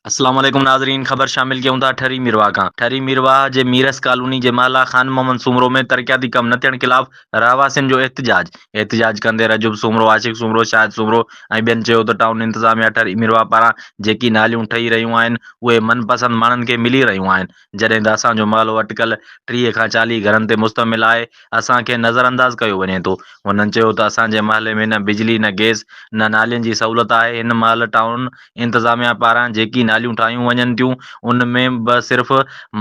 السلام عليڪم ناظرين خبر شامل ڪيون ٿا ٺري ميرواهه کان ٺري ميرواهه جي ميرس ڪالوني جي محله خان محمد سومرو ۾ ترقياتي ڪم نه ٿيڻ خلاف رهواسين جو احتجاج احتجاج ڪندي رجب سومرو عاشق سومرو شاهد سومرو ۽ ٻين چيو ته ٽائون انتظاميا ٺري ميرواهه پاران جيڪي ناليون ٺهي رهيون آهن اهي من پسند ماڻهن کي ملي رهيون آهن جڏهن ته اسان جو مالهو اٽڪل ٽيهه کان چاليهه گهرن تي مشتمل آهي، اسان کي نظرانداز ڪيو وڃي ٿو. هنن چيو ته اسان جي محلي ۾ نه بجلي، نه گئس، نه نالين جي سهولت آهي، هن مهل ٽائون انتظاميا پاران جيڪي ناليون ٺاهيون وڃن ٿيون ان ۾ به صرف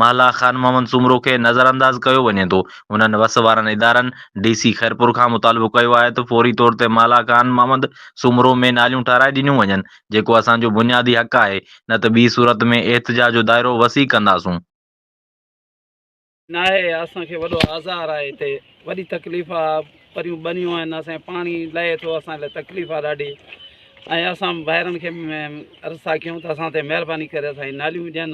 محله خان محمد سومرو کي نظرانداز ڪيو وڃي ٿو، هنن وس وارن ادارن ڊي سي خيرپور کان مطالبو ڪيو آهي ته فوري طور تي محله خان محمد سومرو ۾ ناليون ٺهرائي ڏنيون وڃن جيڪو اسان جو بنيادي حق آهي، نه ته ٻي صورت ۾ احتجاج جو دائرو وسيع ڪنداسون. ناهي اسان کي وڏو آزار آهي هتي وڏي تڪليف آ پريون ٻنيون آهن اسان کي پاڻي لهي ٿو اسان لاء تڪليف آ ڏاڍي ۽ اسان ڀائرن کي عرض ٿا ڪيون ته اسان تي مهرباني ڪري اسان کي ناليون ڏين